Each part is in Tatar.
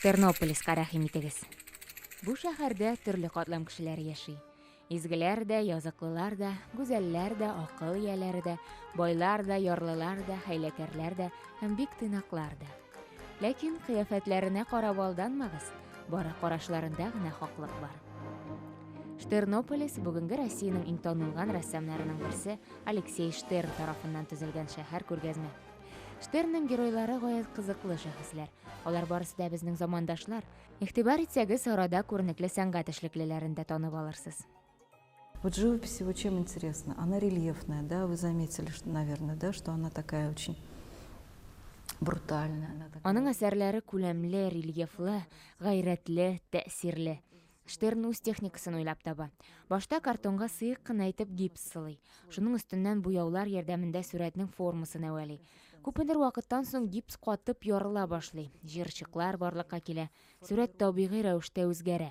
Тернополиска рәхим итегез. Бу шәһәрдә төрле катлам кешеләр яши. Изгеләр дә, языклылар да, гүзәлләр дә, акыл ияләре дә, байлар да, ярлылар да, хәйләкәрләр дә һәм бик тыйнаклар да. Ләкин кыяфәтләренә карап алданмагыз, бары карашларында гына хаклык бар. Штернополис бүгенге Россиянең иң танылган рәссамнарының берсе Алексей Штерн тарафыннан төзелгән шәһәр күргәзмә. Штернның геройлары гаять кызыклы шәхесләр. Алар барысы да безнең замандашлар. Игътибар итсәгез, арада күренекле сәнгать эшлеклеләрен дә танып алырсыз. Вот живопись его чем интересна? Она рельефная, да, вы заметили, что, наверное, да, что она такая очень брутальная. Она такая... Аның әсәрләре күләмле, рельефлы, гайрәтле, тәэсирле. Штерн үз техникасын уйлап таба. Башта картонга сыек кына итеп гипс сылый. Шуның өстеннән буяулар ярдәмендә сурәтнең формасын әвәли. Күпмедер вакыттан соң гипс катып ярыла башлый. Җырчыклар барлыкка килә. Сурәт табигый рәвештә үзгәрә.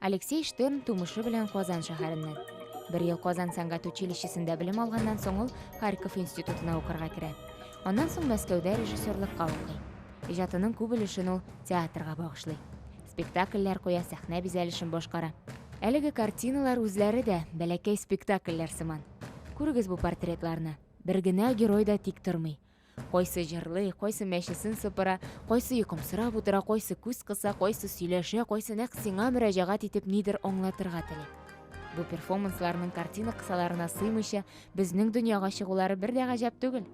Алексей Штерн тумышы белән Казан шәһәреннән. Бер ел Казан сәнгать училищесында белем алганнан соң ул Харьков институтына укырга керә. Аннан соң Мәскәүдә режиссерлыкка укый. Иҗатының күп өлешен ул театрга багышлый. Спектакльләр куя, сәхнә бизәлешен башкара. Әлеге картиналар үзләре дә бәләкәй спектакльләр сыман. Күрегез бу портретларны. Бер генә герой да тик тормый. Кайсы җырлый, кайсы мәчесен сыпыра, кайсы йокымсырап утыра, кайсы күз кыса, кайсы сөйләшә, кайсы нәкъ сиңа мөрәҗәгать итеп нидер аңлатырга тели. Бу перформансларның картина кысаларына сыймыйча, безнең дөньяга чыгулары бер дә гаҗәп түгел.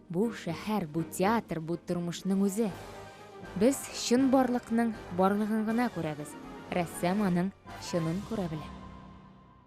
Бу шәһәр, бу театр, бу тормышның үзе. Без чын барлыкның барлыгын гына күрәбез. Рәссам аның чынын күрә белә.